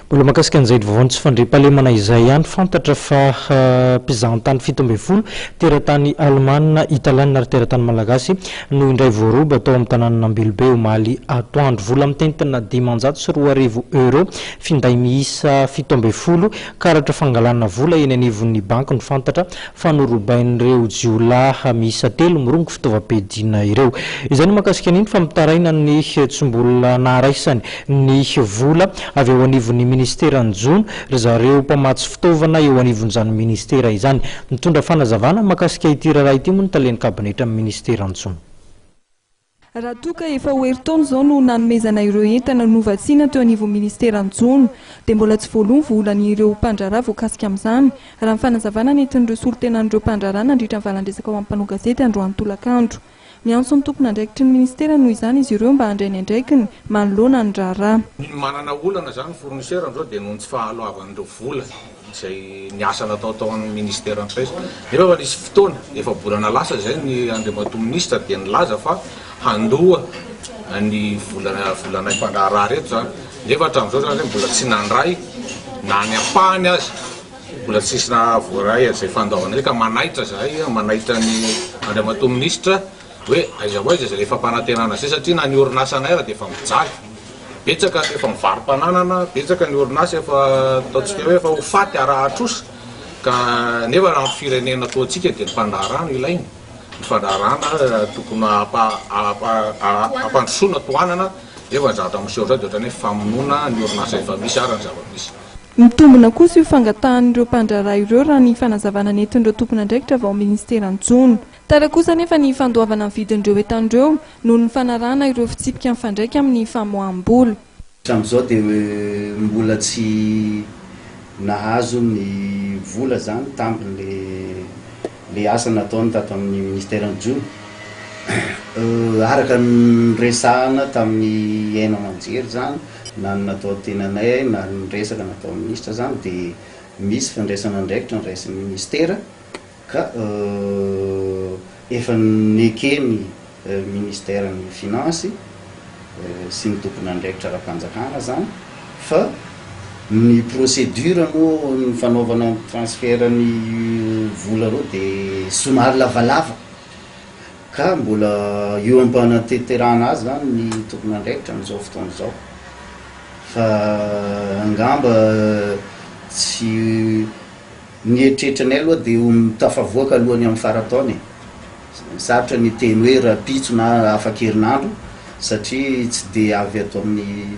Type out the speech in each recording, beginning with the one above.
Mbola mahakasika an'izay vaovaon'ny tsy fandriampahalemana izay ihany, fantatra fa mpizahantany fito ambin'ny folo, teratany alemana, italiana ary teratany malagasy, no indray voaroba tao amin'ny tanànan'Ambilobe omaly atoandro. Vola mitentina dimanjato sy roa arivo euros, finday miisa fito ambin'ny folo, karatra fangalana vola eny anivon'ny banky no fantatra fa norobain'ireo jiolahy miisa telo mirongo fitaovam-piadiana ireo. Izay no mahakasika an'iny fa mitaraina ny tsy mbola naharaisany ny vola avy ao anivon'ny ministeran'ny jono ry zareo mpamatsy fitaovana eo anivon'izany ministera izany. Nitondra fanazavana mahakasika ity raharaha ity moa ny talen'ny kabinetra amin'ny ministeran'ny jono. Raha toa ka efa ho herintaona izao no nanomezana ireo entana novatsiana teo anivon'ny minisiteran'ny Jono, dia mbola tsy voaloa ny volan'ireo mpandraharaha voakasika amin'izany, raha ny fanazavana nentin'ireo solontenan'ireo mpandraharaha nandritra ny valan-dresaka ao amin'ny mpanao gazety androany tolakandro. Miantso ny tompon'andraikitry ny minisitera noho izany izy ireo mba handray ny andraikiny manoloana ny raharaha. Ny manana olana izany ny fournisseur amin'izao dia noho ny tsy fahaloavan'ireo vola. izay ny asa natao tao amin'ny Ministère Empresa. Nefa efa nisy fotoana, efa-bolana lasa izay, ny Andriamatoa Minisitra dia nilaza fa handoa ny vola volanay mpandraharaha ireto izany. Nefa hatramin'izao izany ireto mbola tsy nandray na ny ampahany aza, mbola tsisy voaray izay fandaoana izay ka manaitra izahay, manaitra ny Andriamatoa Minisitra Hoe aiza ho aiza izay efa mpanantenana izay satria na ny orinasanay ary dia efa mijaly. Betsaka ny efa mivaro-pananana, betsaka ny orinasa efa ataontsika hoe efa ho faty ara-atrosa ka nefa raha ny firenena toa antsika dia ny fandraharahana ilaina, ny fandraharahana tokony hampandrosoana, tohanana nefa ny zavatra miseho izao dia ohatran'ny hoe famonoana ny orinasa efa misy ary ny zava-misy. Mitombina kosa io fangatahan'ireo mpandraharaha ireo raha ny fanazavana nentin'ireo tompon'andraikitra avy ao amin'ny minisiteran'ny jono. Tara kosa anefa ny fandoavana ny vidin'ireo entana ireo noho ny fanarahana ireo fitsipika mifandraika amin'ny famoaham-bola. Hatramin'izao dia mbola tsy nahazo ny vola izany tamin'ilay asa nataony tato amin'ny minisiteran'ny Jono. Araka ny niresahana tamin'ny haino aman-jery izany, na ny natao teny anay na ny resaka nataon'ny minisitra izany dia misy fandraisana andraikitra niraisin'ny minisitera. Ka efa neken'ny Ministeran'ny Finances sy ny tompon'andraikitra ara-panjakana izany fa ny procédure moa ny fanaovana ny transfert ny vola ireo dia somary lavalava ka mbola eo am-panateterana azy izany ny tompon'andraikitra amin'izao fotoana izao fa angamba tsy Ny eritreritranay aloha dia ho tafavoaka aloha ny amin'ny faran-taona e! Sarotra ny hiteny hoe rahampitso na afakerinandro satria tsy dia avy ato amin'ny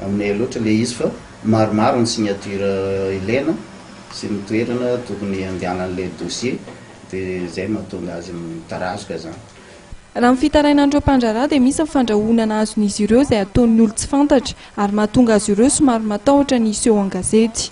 aminay loatra ilay izy fa maromaro ny signature ilaina sy ny toerana tokony handehanan'ilay dossier dia izay mahatonga azy mitarazoka izany. Raha ny fitarainan'ireo mpandraharaha dia misy ny fandrahonana azon'izy ireo izay ataon'ny olon-tsy fantatra ary mahatonga azy ireo somary matahotra ny hiseho an-gazety.